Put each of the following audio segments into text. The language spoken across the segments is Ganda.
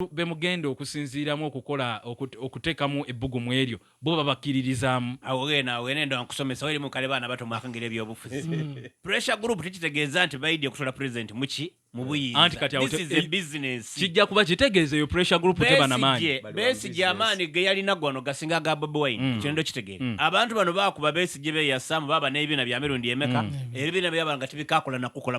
abantu be mugenda okusinziiramu okukola okut, okuteekamu ebbugumu eryo, bo babakkiririzaamu? Awo gen, awo gen enda nkusomesa, weri mu kale baana bato mwakangera ebyobufuzi. Pressure group tekitegeeza nti baidya kusuula President mu ki? Mu Anti buyinza. kati awo This te- is a ei- business. Kijja kuba kitegeeza eyo pressure group teba na maanyi. Besigye, Bali wa Besigye business. amaanyi ge yalina gano gasinga aga Bobi Wine. Mm. Ekyo ndo kitegeera. Mm. Abantu bano baakuba Besigye beeyasaamu baaba n'ebibiina bya mirundi emeka. Ebibiina byabanga tebikaakola na kukola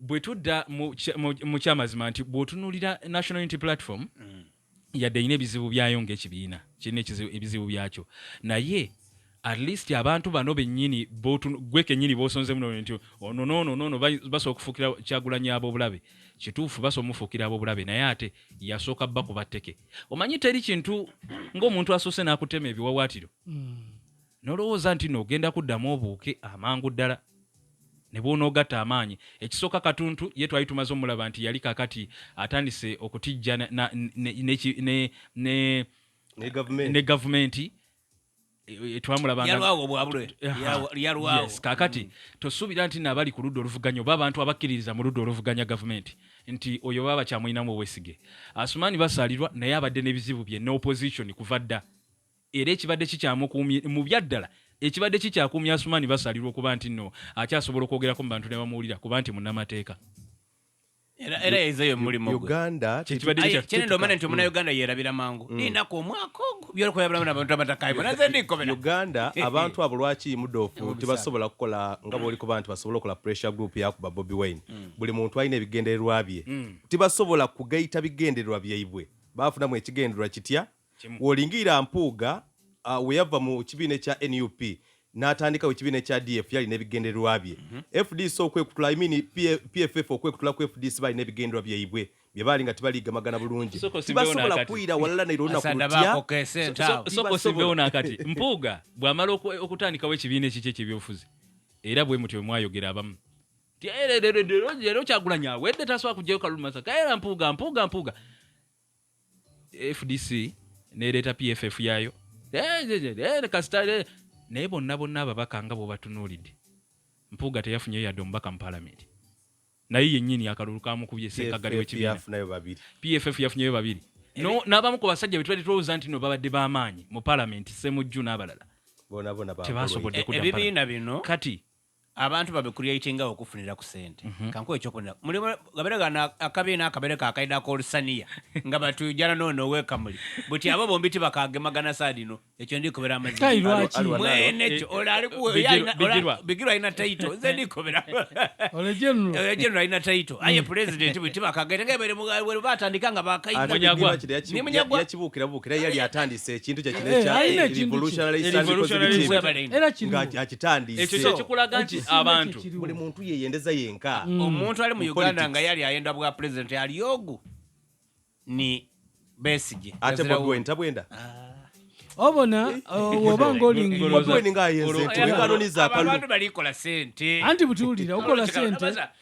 bwe tudda mu kyamazima nti bw'otunuulira national unity platform mm. yadde erina ebizibu byayo ng'ekibiina kirina ebizibu byakyo naye at least abantu bano bennyini gwe kennyini b'osonzemu no nti ono noono noono basobola okufuukira kyagulanyi ab'obulabe kituufu basobola omufuukira ab'obulabe naye ate yasooka bakuba tteke omanyi teri kintu ng'omuntu asoose n'akutema ebiwawaatiro mm. Nolowooza nti no ogenda kuddamu obuuke amangu ddala ne bwonoogatta amaanyi. Ekisooka Katuntu ye twali tumaze omulaba nti yali kakati atandise okutijja na ne ne gavumenti twamulabanga kakati tosuubira nti nabali ku ludda oluvuganya oba abantu abakkiririza mu ludda oluvuganya gavumenti nti oyo baba bakyamulinamu obwesige. Asumaani Basaalirwa naye abadde n'ebizibu bye ne opposition kuva dda Era ekibadde kikyamukuumye, mu byaddala, ekibadde kikyakuumye Asuman Basalirwa okuba nti nno akyasobola okwogerako mu bantu ne bamuwulira kuba nti munnamateeka. Era era yaize yo mulimu gwe. Uganda Kye kibadde Aye kya- kyene ndomanya nti omuna Uganda yerabira mangu. Ninako omwaka ogwo byolikuwa yabulamu nabantu abatakaye. Bona nze ndikobera. Uganda abantu abo lwaki mudoofu tebasobola kukola nga bwolikuba nti basobola okola pressure group yakuba Bobi Wine buli muntu alina ebigendererwa bye tebasobola kugayita bigendererwa byaibwe baafunamu ekigendererwa kitya W'olingirira Mpuuga uh, we yava mu kibiina ekya nup n'atandikawo ekibiina ekya df yali n'ebigendererwa bye mm -hmm. fdc okwekutula I mean, pff okwekutula ku fdc bali n'ebigendererwa byaibwe bye baali nga tebaliigamagana bulungi tibasobola kuyira walala nairo nakutyasokosibeona kati mpuuga bw'amala okutandikawo ekibiina ekiki ekyebyobufuzi era bwe mutyo bwe mwayogera abamu leero kyagulanyi awedde tasobola kugyayo kalulu masaka era mpuuga mpuuga mpuuga fdc nereeta pff yaayo kasita naye bonna bonna ababaka nga bwobatunuulidde mpuuga teyafunyeyo yadde omubaka mu palamenti naye yennyini akalulu kamukubye sekagali wekibiina pff yafunyeyo babiri n'abamu ku basajja betubadde tulowooza nti no babadde b'amaanyi mu palamenti semujju n'abalala tebasobodde kudda kati abantu babe creatinga awo kufunira ku sente mm -hmm. kankuwa ekyokunira mulimu gabere gana akabi na akabere ka kaida ako olusaniya nga batu jana no no weka muli buti abo bombi ti bakage magana sadi no ekyo ndi kubera amazi kai lwachi mwene ekyo eh, ola ali ku ya ina ola bigirwa ina title nze ndi kubera ola jenu ola jenu ina title mm. aye president buti bakage nga bere mu batandika nga bakaida munyagwa ni munyagwa yakibukira bukira yali atandi ekintu kye kino ekya eh, eh, revolutionary ng'akitandise ekyo kye kikulaga nti abantu buli muntu yeyendeza yenka mm. omuntu ali mu uganda nga yali ayenda bwa pulezidenti aliogu ni besigye ate bwagwe ntabwenda ah. obona eh, eh, oba eh, ngaolingaanti butiwulira okola sente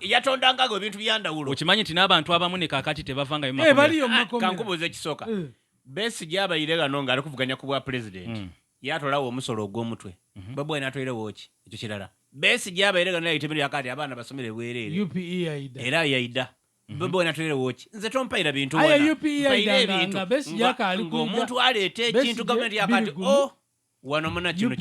yatondangago ebintu byandawulo okimanyi nti n'abantu abamu ne kakati tebavangayo eh, ah, kankubuuza ekisooka eh. besigye abayire gano ng'ali kuvuganya ku bwa pulezidenti mm. yatolawo omusolo ogw'omutwe mhm. babwa natoirewoki ekyo kirala besigye abayire gano yaitemere yakati abaana basomere bwereere e era yaida mhm. babwa natoirewoki nze tompaira bintu e ebintu ng'omuntu aleeta ekintu gavumenti yakati o oh, wano muna kino